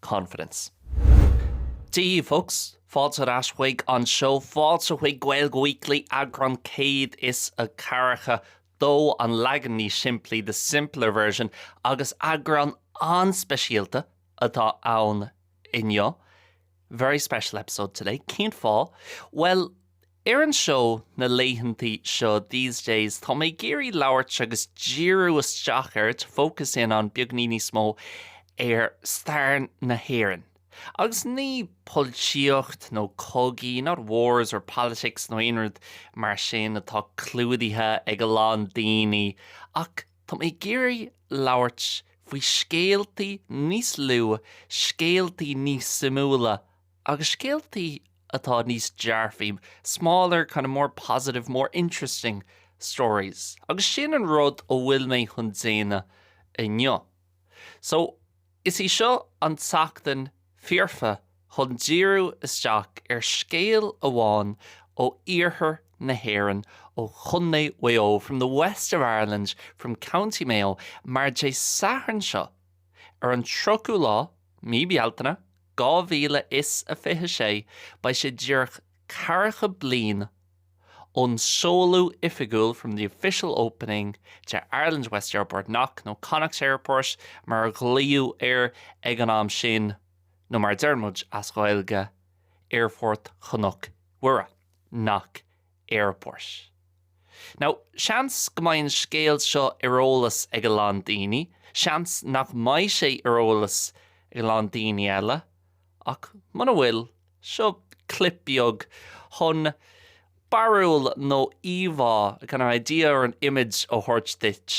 confidence. To you folks, Fáilte ar ais chuig an seó, fáilte chuig Gaeilge Weekly, eagrán 140, dó, an leagan níos simplí, the simpler version, agus eagrán an-speisialta atá ann inniu. Very special episode today, cén fáth? Bhuel, Ar an seó, na laethantaí seo, these days, tá mé ag iarraidh labhairt agus díriú isteach ar, to focus in on, beagní níos mó ar stair na hÉireann. Agus ní polaitíocht nó cogaí, not wars or politics nó aon rud mar sin atá clúdaithe ag a lán daoine, ach tá mé ag iarraidh labhairt faoi scéaltaí níos lú, scéaltaí níos suimiúla Agus scéaltaí atá níos dearfaí, smaller, kind of more positive, more interesting stories. Agus sin an rud a bhfuil mé chun déanamh inniu. So, is í seo an tseachtain foirfe chun díriú isteach ar scéal amháin ó iarthar na hÉireann, ó Chontae Mhaigh Eo, from the west of Ireland, from County Mayo, mar Dé Sathairn seo, ar an 30ú lá, Mí Bealtaine, 2026 beidh sé díreach ceathracha bliain ón seoladh oifigiúil from the official opening de Ireland's West Airport Knock nó Connacht Airport mar a glaodh air ag an am sin nó mar a deireann muid as Gaeilge Aerfort Chnoc Mhuire, Knock Airport. Now, seans go mbeidh an scéal seo ar eolas ag a lán daoine, seans nach mbeidh sé ar eolas ag a lán daoine eile, ach muna bhfuil, seo clip beag chun barúil nó íomhá, a kind of idea or an image, a thabhairt duit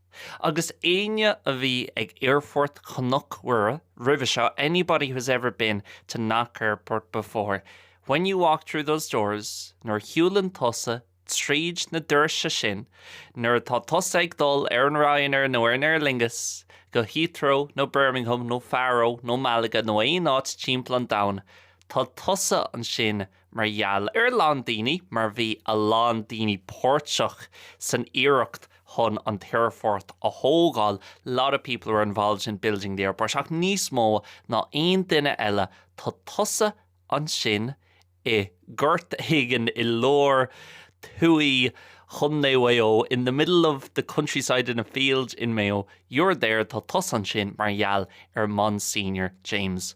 Agus éinne a bhí ag Aerfort Chnoc Mhuire roimhe seo, anybody who has ever been to Knock Airport before, when you walk through those doors, nuair a shiúlann tusa tríd na doirse sin, nuair atá tusa ag dul ar an Ryanair nó ar an Aer Lingus go Heathrow nó Birmingham nó Faro nó Malaga nó aon áit timpeall an domhain, tá tusa ansin mar gheall ar a lán daoine mar bhí a lán daoine páirteach san iarracht chun an t-aerfort a thógáil, a lot of people were involved in building the airport ach níos mó ná aon duine eile tá tusa ansin i gort éigin i lár tuaithe Chondae Mhaigh Eo in the middle of the countryside in a field in Mayo you're there tá tusa ansin mar gheall ar Monsignor James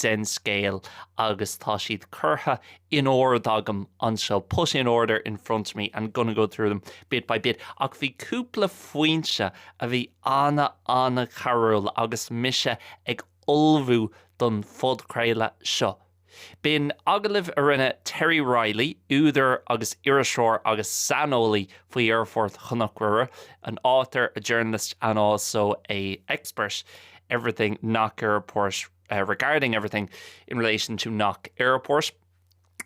den scéal agus tá siad curtha in ord agam anseo, put in order in front of me, I'm gonna go through them bit by bit ach bhí cúpla foinse a bhí an-an-chabhrúil agus mise ag ullmhú don phodchraoladh seo. B'in agallamh a rinne Terry Reilly, údar agus iriseoir agus saineolaí faoi aerfort Chnoc Mhuire, an author, a journalist and also an expert, everything Knock Airport uh, regarding everything in relation to Knock Airport.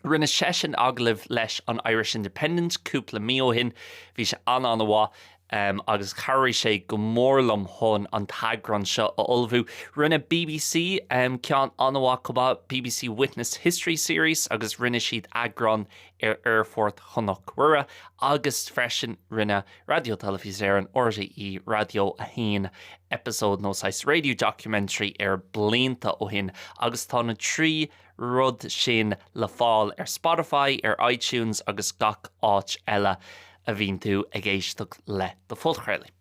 Rinne seisean agallamh leis an Irish Independent cúpla mí ó shin, bhí sé an-an-mhaith um, agus chabhraigh sé go mór liom chun an t-eagrán seo a ullmhú. Rinne BBC um, ceann an-mhaith chomh maith, BBC Witness History Series, agus rinne siad eagrán ar Aerfort Chnoc Mhuire, agus freisin rinne Raidió Teilifís Éireann, RTÉ Raidió 1, episode nó saghas radio documentary air blianta ó shin agus tá na trí rud sin le fáil ar Spotify, ar iTunes agus gach áit eile a bhíonn tú ag éisteacht le do phodchraoladh.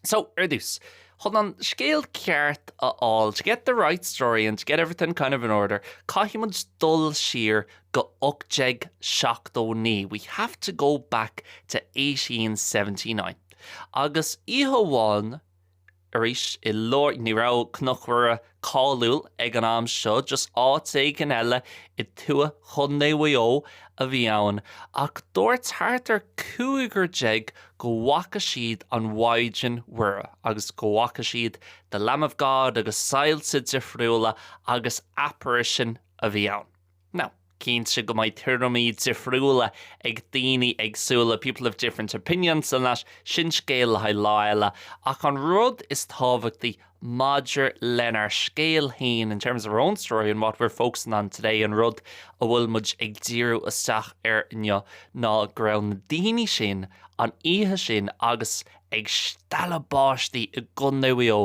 So, ar dtús, chun an scéal ceart a fháil, to get the right story and to get everything kind of in order, caithfidh muid dul siar go 1879 we have to go back to 1879 agus oíche amháin arís i lár, ní raibh Cnoc Mhuire cáiliúil ag an am seo just áit éigin eile i dtuaith Chontae Mhaigh Eo a bhí ann ach dúirt thart ar cúigear déag go bhfaca siad an Mhaighdean Mhuire agus go bhfaca siad the Lamb of God agus soilse difriúla agus apparition a bhí ann. Now, cinnte go mbeidh tuairimí difriúla ag daoine éagsúla, people have different opinions on that, sin scéal le haghaidh lá eile, ach an rud is tábhachtaí maidir lenár scéal fhéin, in terms of our own story and what we're focusing on today, an rud a bhfuil muid ag díriú isteach air inniu, ná go raibh na daoine sin, an oíche sin, agus ag stealladh báistí i gContae Mhaigh Eo,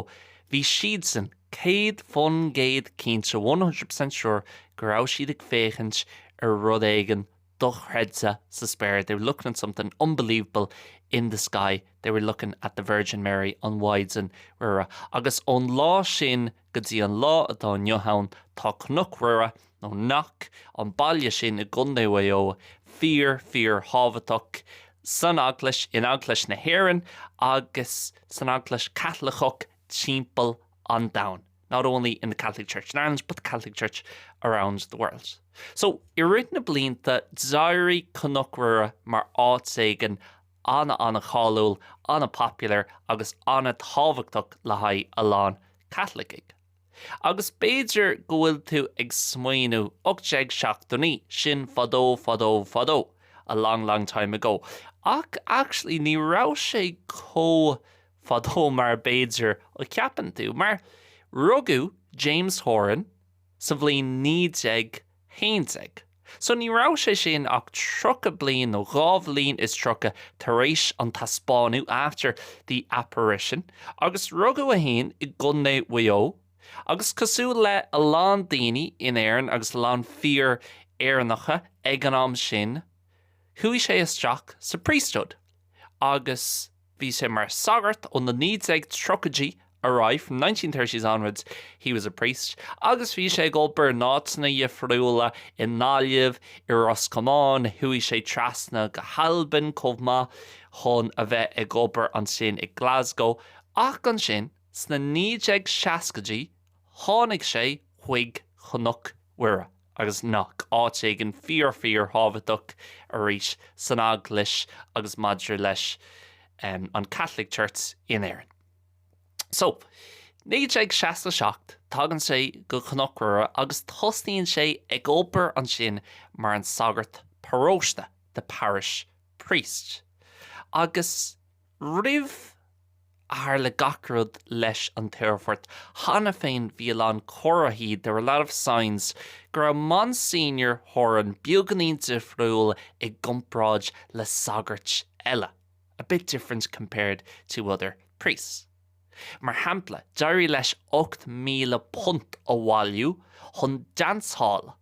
bhí siadsan, Céad faoin gcéad cinnte, one hundred percent sure, go raibh siad ag féachaint ar rud éigin dochreidte sa spéir, they were looking at something unbelievable in the sky, they were looking at the Virgin Mary, an Mhaighdean Mhuire. Agus ón lá sin go dtí an lá atá inniu ann, tá Cnoc Mhuire, nó Knock, an baile sin i gContae Mhaigh Eo, fíor, fíor thábhachtach san Eaglais, in Eaglais na hÉireann agus san Eaglais Chaitliceach timpeall an domhain not only in the Catholic Church in Ireland but the Catholic Church around the world. So i rith na blianta d'éirigh Cnoc Mhuire mar áit éigin ana ana cháiliúil, ana popular agus ana tábhachtach le haghaidh a lán Caitlicigh. Agus b'fhéidir go bhfuil tú ag smaoiniú, 1879, sin fadó fadó fadó, a long long time ago, ach actually ní raibh sé chomh fadó mar b'fhéidir a cheapann tú, mar rugadh James Horan sa bhliain 1911, so ní raibh sé sin ach tríocha bliain nó dhá bhliain is tríocha tar éis an taispeánú, after the apparition, agus rugadh é fhéin i gCondae Mhaigh Eo agus cosúil le a lán daoine in Éirinn agus a lán fir Éireannacha ag an am sin chuaigh sé isteach sa priesthood agus Bhí sé mar sagart ó na 1930idí ar aghaidh, from nineteen thirties onwards he was a priest, agus bhí sé ag obair in áiteanna dhifriúla, i nGaillimh, i Ros Comáin, chuaigh sé trasna go hAlbain chomh maith chun a bheith ag obair ansin i Glasgow ach ansin sna 1960idí tháinig sé chuig Cnoc Mhuire. Agus seo áit éigin fíor fíor thábhachtach arís san Eaglais agus maidir leis an Catholic Church in Éirinn. So, 1967, tagann sé go Cnoc Mhuire agus tosnaíonn sé ag obair ansin mar an sagart paróiste, the parish priest. Agus Roimh a tharla gach rud leis an t-aerfort cheana féin bhí a lán comharthaí, there were a lot of signs, go raibh Monsignor Horan beagáinín difriúil i gcomparáid le sagairt eile, a bit different compared to other priests. Mar shampla, d'éirigh leis £8,000 a bhailiú chun dance hall a.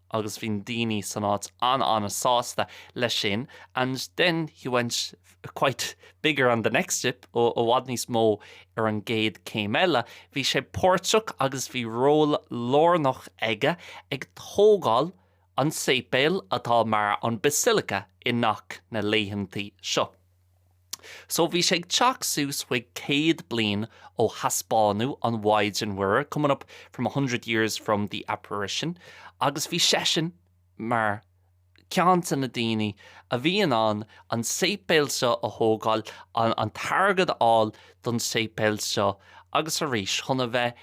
agus bhí na daoine san áit an-an-sásta leis sin and then he went quite bigger on the next step ó i bhfad níos mó ar an gcéad céim eile. Bhí sé páirteach agus bhí ról lárnach aige ag tógáil an tséipéil atá mar an Basilica i gCnoc na laethantaí seo. So bhí sé ag teacht suas chuig céad bliain ó thaispeánú an Mhaighdean Mhuire, coming up from a hundred years from the Apparition, agus bhí seisean mar cheann de na daoine a bhí in ann an séipéal seo a thógáil, an t-airgead a fháil don séipéal seo agus arís chun a bheith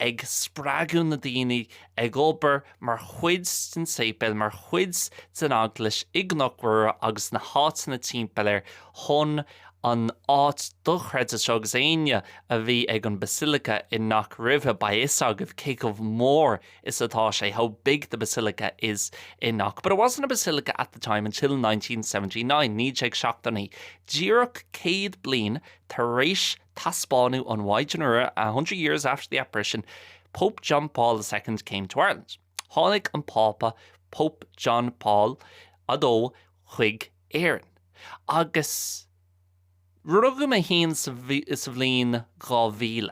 ag spreagadh na daoine ag obair, mar chuid den tséipéal, mar chuid den eaglais i gCnoc Mhuire agus sna háiteanna timpeall air chun an áit dochreidte seo agus éinne a bhí ag an Basilica i Knock roimhe, beidh a fhios agaibh cé chomh mór is atá sé, how big the Basilica is in Knock. But it wasn't a Basilica at the time until nineteen seventy nine, 1979, díreach céad bliain tar éis taispeánadh an Mhaighdean Mhuire, a hundred years after the apparition, Pope John Paul the Second came to Ireland, Tháinig an Pápa Pope John Paul a Dó chuig Éirinn, agus rugadh mé féin sa bhliain 2000,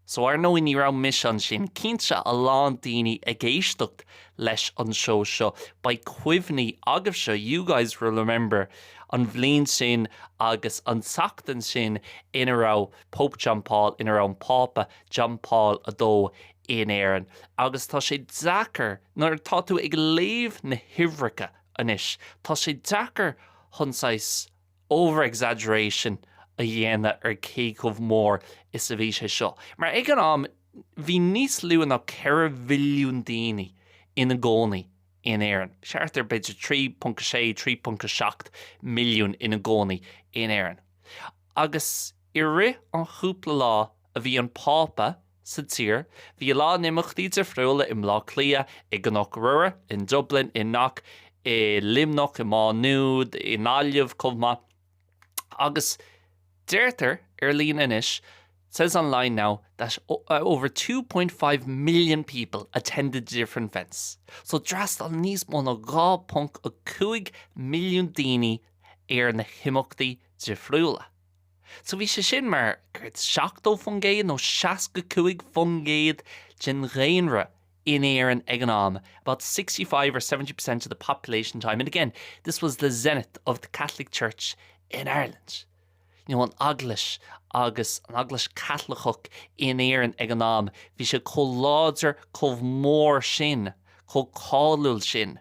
so ar ndóigh ní raibh mise ansin, cinnte a lán daoine ag éisteacht leis an seó seo, beidh cuimhní agaibhse, you guys will remember, an bhliain sin agus an tseachtain sin ina raibh Pope John Paul, ina raibh an Pápa, John Paul a Dó in Éirinn agus tá sé deacair, nuair atá tú ag léamh na huimhreacha anois, tá sé deacair chun saghas over-exaggeration a dhéanamh ar cé chomh mór is a bhí sé seo. Mar ag an am, bhí níos lú ná ceithre mhilliún daoine ina gcónaí in Éirinn. Thart ar b'fhéidir 3.6, 3.7 milliún ina gcónaí in Éirinn. Agus i rith an chúpla lá a bhí an Pápa sa tír. Bhí a lán imeachtaí difriúla i mBleá Cliath, i gCnoc Mhuire, in Dublin, i Knock, i Luimneach, i Má Nuad, i nGaillimh chomh maith. Agus deirtear ar líne anois, says online now that over 2.5 million people attended the different events. So d'fhreastail níos mó ná 2.5 milliún daoine ar na himeachtaí difriúla. So bhí sé sin mar a dúirt 70% nó 65% den dhaonra in Éirinn ag an am, about 65 or 70 percent of the population time and again this was the zenith of the Catholic Church in Ireland, you know an Eaglais agus an Eaglais Caitliceach in Éirinn ag an am bhí sé chomh láidir, chomh mór sin, chomh cáiliúil sin.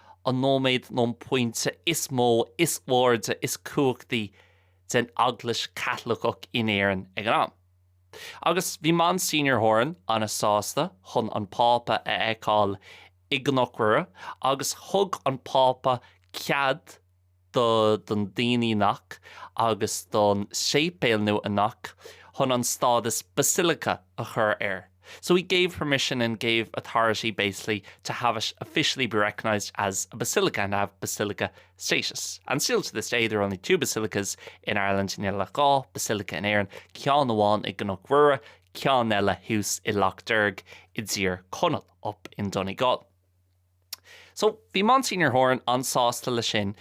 an nóiméad nó an pointe is mó, is airde, is cumhachtaí den Eaglais Chaitliceach in Éirinn ag an am. Agus bhí Monsignor Horan an-sásta chun an Pápa a fheiceáil i gCnoc Mhuire agus thug an Pápa cead, do don daoine Knock agus don séipéal nua i Knock chun an stádas basilica a chur air so he gave permission and gave authority basically to have it officially be recognised as a basilica and have basilica status and still to this day there are only two basilicas in Ireland níl ach dhá basilica in Éirinn ceann amháin i gCnoc Mhuire ceann eile thuas i Loch Derg i dTír Conaill up in Donegal So, bhí Monsignor Horan an-sásta le sin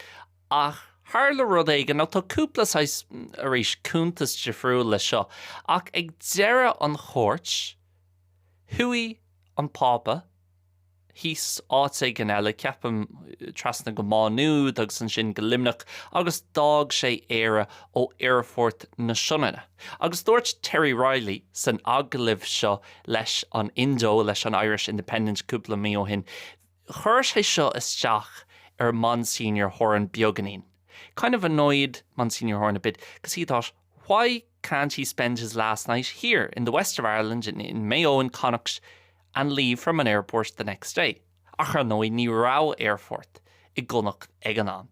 ach tharla rud éigin, nó tá cúpla saghas, arís, cuntas difriúil le seo, ach ag deireadh an chuairt, chuaigh an Pápa, thíos áit éigin eile, ceapaim, trasna go Má Nuad agus ansin go Luimneach agus d'fhág sé Éire ó Aerfort na Sionainne. Agus dúirt Terry Reilly san agallamh seo leis an Indo, leis an Irish Independent cúpla mí ó shin, chuir sé seo isteach ar Monsignor Horan beagainín, kind of annoyed Monsignor Horan a bit, because he thought, why can't he spend his last night here in the west of Ireland, in in Mayo, in Connacht, and leave from an airport the next day? Ach ar ndóigh, ní raibh aerfort i gConnacht ag an am.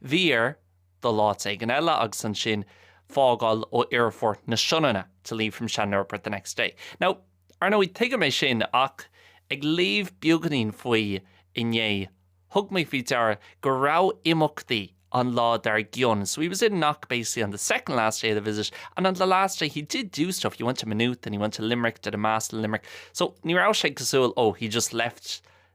Bhí air. dul áit éigin eile agus ansin fágáil ó Aerfort na Sionainne to leave from Shannon Airport the next day. Now, ar ndóigh, tuigim é sin ach ag léamh beagainín faoi inné, thug mé faoi deara go raibh imeachtaí an lá dar gcionn so he was in Knock basically on the second last day of the visit and on the last day he did do stuff, he went to Maynooth and he went to Limerick, did a mass in Limerick so ní raibh sé cosúil oh he just left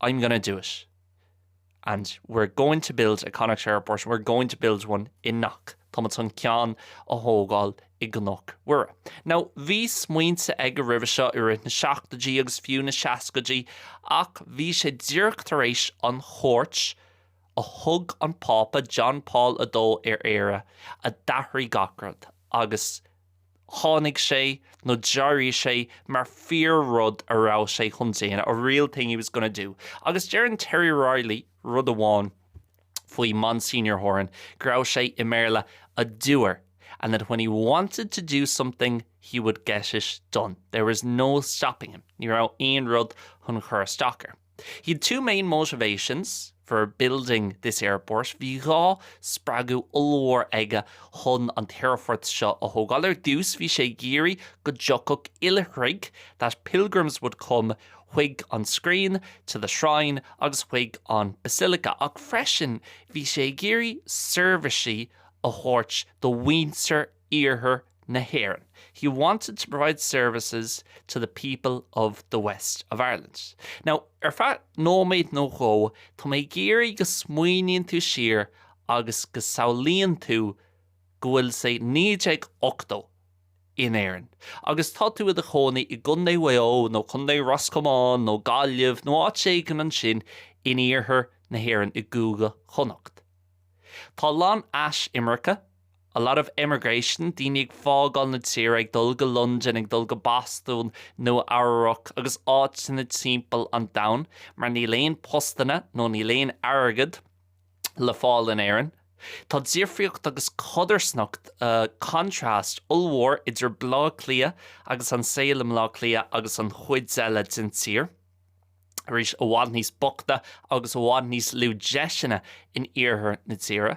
I'm gonna do it and we're going to build a Connacht Airport, we're going to build one in Knock, tá muid chun ceann a thógáil i gCnoc Mhuire. Now, bhí smaointe aige roimhe seo i rith na seachtoidí agus fiú na seascaidí ach bhí sé díreach tar éis an chuairt a thug an Pápa John Paul a Dó ar Éire a d'athraigh gach rud agus tháinig sé nó d'éirigh sé mar fíor rud a raibh sé chun déanamh, a real thing he was gonna do. Agus deireann Terry Reilly rud amháin faoi Monsignor Horan, go raibh sé, i mBéarla, 'a doer' and that when he wanted to do something he would get it done. There was no stopping him, ní raibh aon rud chun chur isteach air. He had two main motivations for building this airport, bhí dhá spreagadh ollmhór aige chun an t-aerfort seo a thógáil, ar dtús bhí sé ag iarraidh go dtiocfadh oilithrigh, that pilgrims would come, chuig an scrín, to the shrine, agus chuig an basilica, ach freisin bhí sé ag iarraidh seirbhísí a thabhairt do mhuintir iarthar na hÉireann. He wanted to provide services to the people of the west of Ireland. Now, ar feadh nóiméad nó dhó, tá mé ag iarraidh go smaoiníonn tú siar agus go samhlaíonn tú go bhfuil sé 1980 in Éirinn agus tá tú i do chónaí i gContae Mhaigh Eo nó Contae Ros Comáin nó Gaillimh nó áit éigin ansin in iarthar na hÉireann i gCúige Chonnacht. Tá a lán eisimirce A lot of emigration, daoine ag fágáil na tíre, ag dul go Londain, ag dul go Bostún, Nua Eabhrac agus áiteanna timpeall an domhain mar níl aon postanna nó níl aon airgead le fáil in Éirinn. Tá difríocht agus codarsnacht, contrast, ollmhór idir Bleá Cliath agus an saol i mBleá Cliath agus an chuid eile den tír. Arís, i bhfad níos bochta agus i bhfad níos lú deiseanna in iarthar na tíre.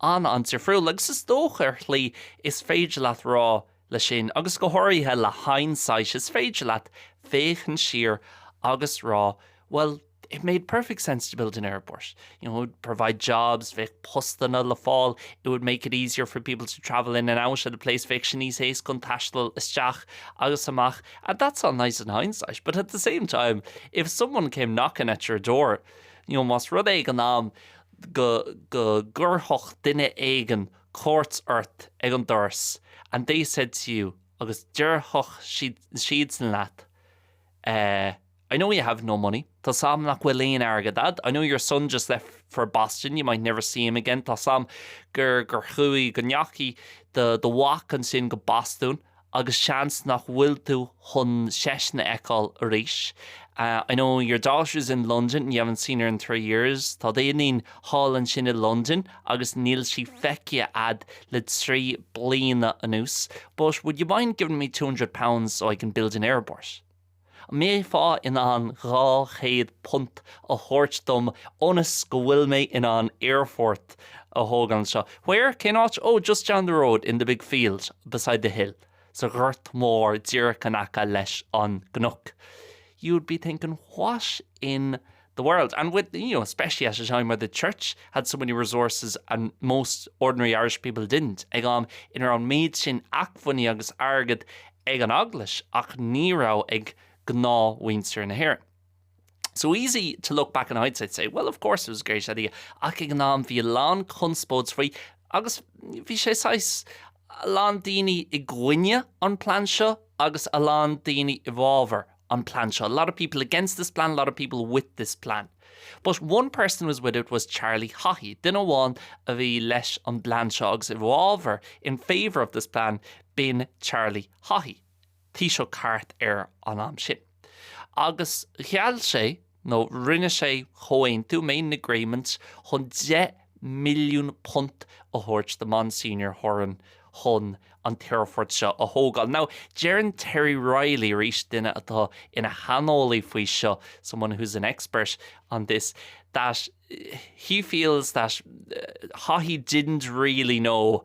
an-difriúil agus is dócha ar shlí is féidir leat rá le sin agus go háirithe le hindsight is féidir leat féachaint siar agus rá bhuel it made perfect sense to build an airport you know it would provide jobs bheadh postanna le fáil it would make it easier for people to travel in and out of the place bheadh sé níos éasca an taisteal isteach agus amach and that's all nice in hindsight but at the same time if someone came knocking at your door you know más rud é ag an am go gcuirfeadh duine éigin cuairt ort ag an doras and they said to you agus déarfadh siadsan leat I know you have no money, tá 's a'm nach bhfuil aon airgead a'd, I know your son just left for Boston, you might never see him again, tá 's a'm gur chuaigh, go ndeachaigh do mhac ansin go Bostún agus seans nach bhfuil tú chun seisean a fheiceáil arís I know your daughter's in London, you haven't seen her in three years tá d'iníon thall ansin i Londain agus níl sí feicthe a'd le trí bliana anuas but would you mind giving me two hundred pounds so I can build an airport? An mbeifeá in ann dhá chéad punt a thabhairt dom ionas go bhfuil mé in ann aerfort a thógáil anseo? Where? Cén áit? Oh, just down the road, in the big field beside the hill, sa ghort mór díreach in aice leis an gcnoc. You'd be thinking, what in the world and with, you know, especially at a time where the church had so many resources and most ordinary Irish people didn't, ag am ina raibh an méid sin acmhainní agus airgead ag an eaglais ach ní raibh ag gnáthmhuintir na hÉireann. So easy to look back in hindsight and say, well, of course it was a great idea, ach ag an am bhí a lán conspóid faoi agus bhí sé saghas a lán daoine i gcoinne an plean seo agus a lán daoine i bhfábhar an plean seo. A lot of people against this plan, a lot of people with this plan. But one person was with it was Charlie Haughey. Duine amháin a bhí leis an bplean seo agus i bhfábhar in favour of this plan b'in Charlie Haughey, Taoiseach thart ar an am sin. Agus gheall sé nó rinne sé comhaontú, made an agreement, chun deich milliún punt a thabhairt do Monsignor Horan chun an t-aerfort seo a thógáil. Now, deireann Terry Reilly, arís duine atá ina shaineolaí faoi seo, someone who's an expert on this, that he feels that Haughey didn't really know,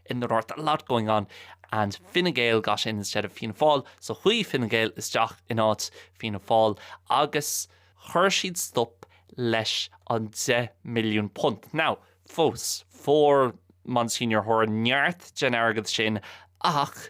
in the north, a lot going on and Fine Gael got in instead of Fianna Fáil, so chuaigh Fine Gael isteach in áit Fianna Fáil agus chuir siad stop leis an 10 milliún punt. Now, fós, fuair Monsignor Horan neart den airgead sin ach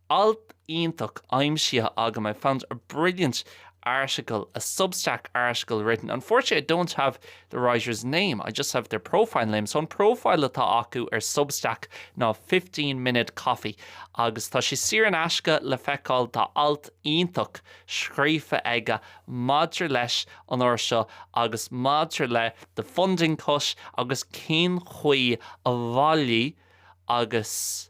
Alt iontach aimsithe agam, I found a brilliant article, a Substack article written. Unfortunately I don't have the writer's name, I just have their profile name. So an profile atá acu ar Substack ná Fifteen Minute Coffee agus tá sé saor in aisce le feiceáil. Tá alt iontach scríofa aige maidir leis an uair seo agus maidir le the funding cut agus cén chaoi a bhailigh agus.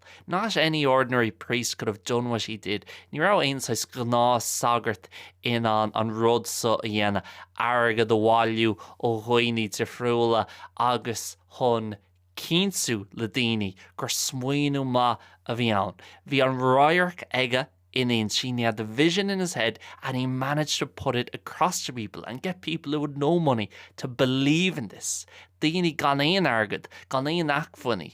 Not any ordinary priest could have done what he did, ní raibh aon saghas gnáth sagart in ann an rud seo a dhéanamh, airgead a bhailiú ó dhaoine difriúla agus chun cinntiú le daoine gur smaoineamh maith a bhí ann. Bhí an radharc aige ina intinn, he had the vision in his head and he managed to put it across to people and get people who had no money to believe in this, daoine gan aon airgead, gan aon acmhainní.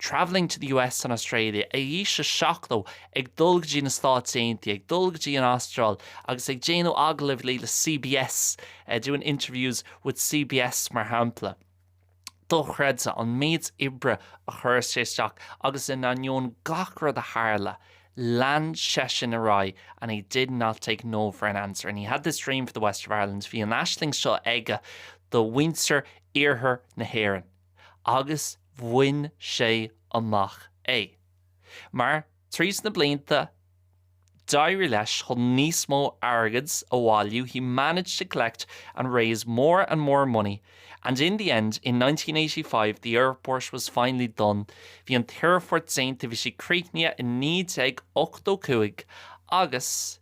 travelling to the US and Australia, ag aois a 70, ag dul go dtí na Stáit Aontaithe, ag dul go dtí an Astráil agus ag déanamh agallaimh le CBS, doing interviews with CBS mar shampla. Dochreidte an méid oibre a chuir sé isteach agus in ainneoin gach rud a tharla, lean seisean ar aghaidh and he did not take no for an answer and he had this dream for the West of Ireland, bhí an aisling seo aige do mhuintir iarthar na hÉireann. agus bhain sé amach é. Mar, tríd na blianta, d'éirigh leis chun níos mó airgead a bhailiú, he managed to collect and raise more and more money and in the end, in nineteen eighty five, the airport was finally done, bhí an t-aerfort déanta, bhí sé críochnaithe i naoi déag ochtó cúig agus.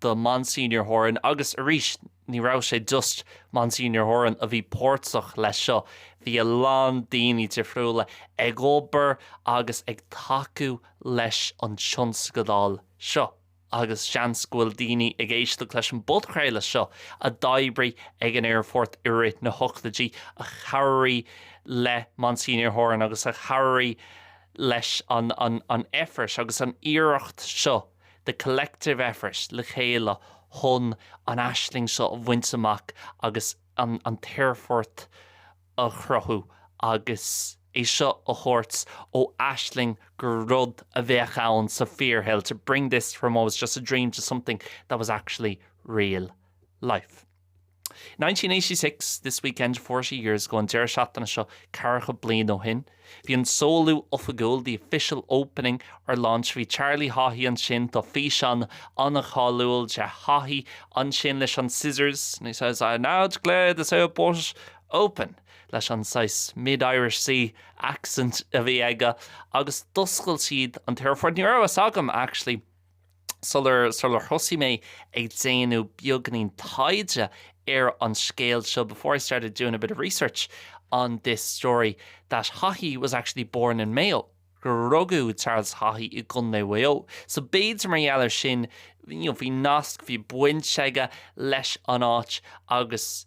do Monsignor Horan agus arís ní raibh sé just Monsignor Horan a bhí páirteach leis seo, bhí a lán daoine difriúla ag obair agus ag tacú leis an tionscadal seo agus seans go bhfuil daoine ag éisteacht leis an bpodchraoladh seo a d'oibrigh ag an aerfort i rith na hochtaidí a chabhraigh le Monsignor Horan agus a chabhraigh leis an effort agus an iarracht seo. the collective effort le chéile chun an aisling seo a bhaint amach agus an t-aerfort a chruthú agus é seo a thabhairt ó aisling go rud a bheadh ann sa bhfíorshaol, to bring this from what was just a dream to something that was actually real life. 1986 This weekend forty years ago An deireadh seachtaine seo ceathracha bliain ó shin bhí an seoladh oifigiúil the official opening or launch Bhí Charlie Haughey ansin tá físeán an-cháiliúil de Haughey ansin leis an scissors and he says I now declare this airport open leis an saghas mid-Irish sea accent a bhí aige agus d'oscail siad an t-aerfort Ní raibh fhios agam actually sular thosaigh mé ag déanamh beagainín taighde ar an scéal seo before I started doing a bit of research on this story that Haughey was actually born in Mayo gur rugadh Charles Haughey i gContae Mhaigh Eo. So b'fhéidir mar gheall ar sin, you know, bhí nasc, bhí baint aige leis an áit agus,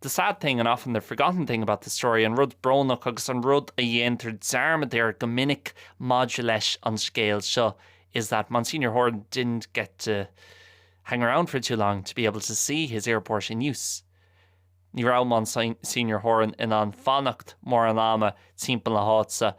The sad thing and often the forgotten thing about the story, an rud brónach agus an rud a dhéantar dearmad air go minic maidir leis an scéal seo, is that Monsignor Horan didn't get to hang around for too long to be able to see his airport in use. Ní raibh Monsignor Horan in ann fanacht mórán ama timpeall na háite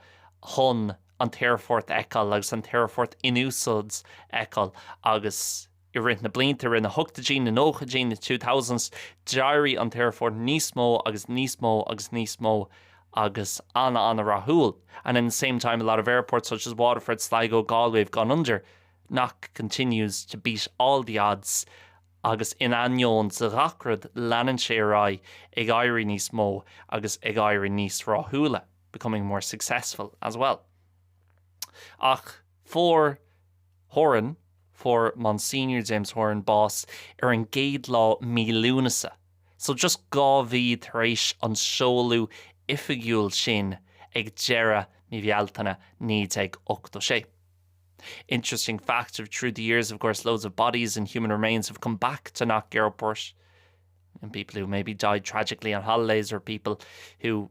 chun an t-aerfort a fheiceáil agus an t-aerfort in úsáid a fheiceáil agus I rith na blianta i rith na hoctaidí, na nóchaidí, na two thousands, d'éirigh an t-aerfort níos mó agus níos mó agus níos mó agus an-an-rathúil and in the same time a lot of airports such as Waterford, Sligo, Galway have gone under Knock continues to beat all the odds agus in ainneoin de ghach rud leanann sé ar aghaidh ag éirí níos mó agus ag éirí níos rathúla becoming more successful as well. Ach. Fuair Horan, fuair Monsignor James Horan bás ar an gcéad lá mí Lúnasa, so just dhá mhí tar éis an seoladh oifigiúil sin ag deireadh mí Bhealtaine 1986. Interesting fact of through the years of course loads of bodies and human remains have come back to Knock Airport. and people who maybe died tragically on holidays or people who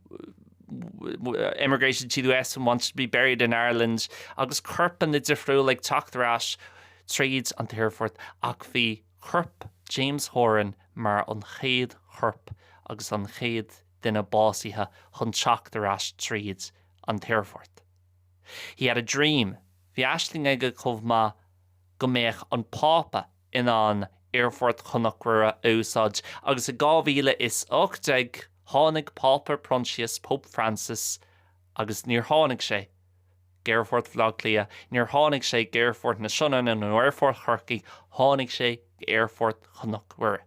emigrated to the US and wanted to be buried in Ireland agus corpanna difriúil ag teacht ar ais tríd an t-aerfort ach bhí corp James Horan mar an chéad chorp agus an chéad duine básaithe chun teacht ar ais tríd an t-aerfort. He had a dream, bhí aisling aige chomh maith go mbeadh an Pápa in ann Aerfort Chnoc Mhuire a úsáid agus i 2018 tháinig Pápa Proinsias, Pope Francis, agus níor tháinig sé go Aerfort Bhaile Átha Cliath, níor tháinig sé go Aerfort na Sionainne nó Aerfort Chorcaí, tháinig sé go Aerfort Chnoc Mhuire.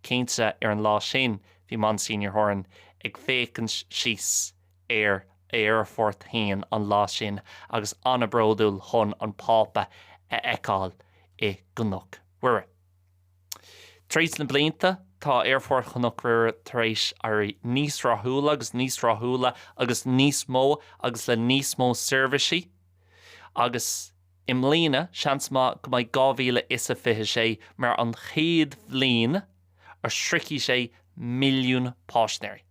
Cinnte ar an lá sin bhí Monsignor Horan ag féachaint síos ar a aerfort fhéin an lá sin agus an-bhródúil chun an Pápa a fheiceáil i gCnoc Mhuire. Tar éis na blianta tá aerfort Chnoc Mhuire tar éis éirí níos rathúla agus níos rathúla agus níos mó agus le níos mó seirbhisí agus i mbliana seans maith go mbeidh dhá mhíle is a fiche sé mar an chéad bhliain a shroichfidh sé milliún páisnéirí.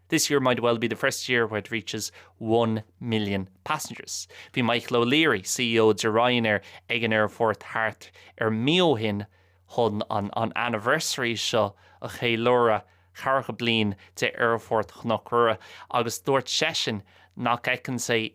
This year might well be the first year where it reaches one million passengers. Bhí Michael O'Leary, CEO de Ryanair ag an aerfort thart ar mí ó shin chun an anniversary seo a cheiliúradh, ceathracha bliain de Aerfort Chnoc Mhuire, agus dúirt seisean nach bhfeiceann sé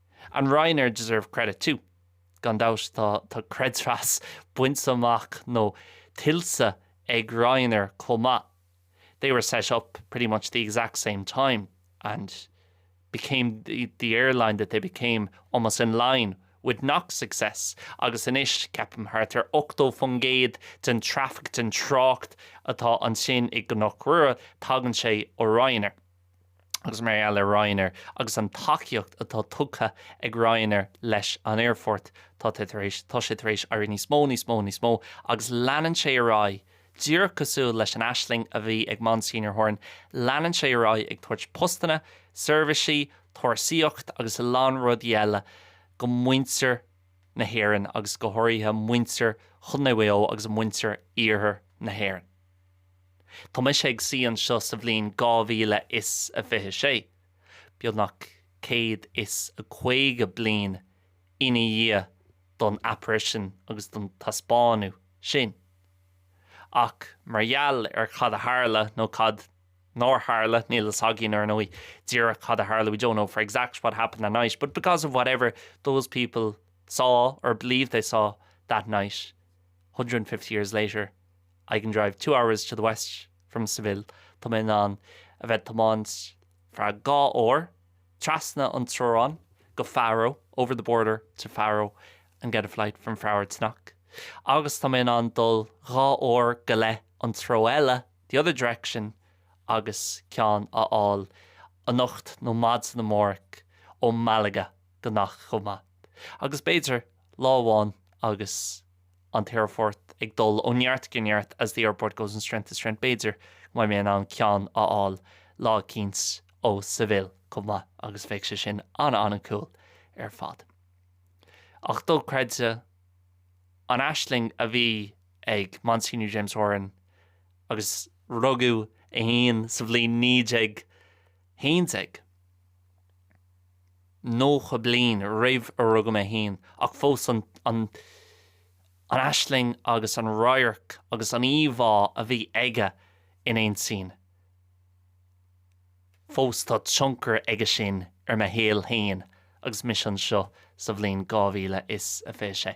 And Ryanair deserve credit too. Gan dabht tá creidmheas bainte amach nó tuillte ag Ryanair chomh maith. They were set up pretty much the exact same time and became the airline that they became almost in line with Knock's success agus anois ceapaim thart ar 80% den traffic, den trácht, atá ansin i gCnoc Mhuire tagann sé ó Ryanair. agus mar gheall ar Ryanair agus an tacaíocht atá tugtha ag Ryanair leis an aerfort, tá sé tar éis, tá sé tar éis éirí níos mó, níos mó, níos mó agus leanann sé ar aghaidh, díreach cosúil leis an aisling a bhí ag Monsignor Horan, leanann sé ar aghaidh ag tabhairt postanna, seirbhisí, turasóireacht agus a lán rudaí eile go muintir na hÉireann agus go háirithe muintir Chondae Mhaigh Eo agus muintir iarthar na hÉireann. Tá mise ag suí anseo sa bhliain 2026, beagnach 150 bliain ina dhiaidh don apparition agus don taispeánadh sin, ach mar gheall ar cad a tharla, nó cad nár tharla, níl a fhios againn, ar ndóigh, díreach cad a tharla, we don't know for exact what happened that night, but because of whatever those people saw or believed they saw that night, hundred and fifty years later, I can drive two hours to the west from Seville, tá mé in ann a bheith ag tiomáint ar feadh dhá uair trasna an teorainn go Faro, over the border to Faro, and get a flight from Faro to Knock, agus tá mé in ann dul dhá uair go leith an treo eile, the other direction, agus ceann a fháil anocht nó maidin amárach ó Malaga go Knock chomh maith, agus b'fhéidir lá amháin agus. an t-aerfort ag dul ó neart go neart as the airport goes from strength to strength b'fhéidir go mbeidh mé in ann ceann a fháil lá eicínt ó Seville chomh maith agus bheadh sé sin an-an-an-cool ar fad. Ach dochreidte an aisling a bhí ag Monsignor James Horan agus rugadh é fhéin sa bhliain naoi déag 1190 bliain roimh a rugadh mé féin, ach fós an aisling agus an radharc agus an íomhá a bhí aige in intinn fós tá tionchar aige sin ar mo shaol féin agus mise anseo sa bhliain 2026.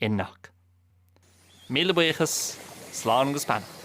Inniu. Míle buíochas, slán agus beannacht.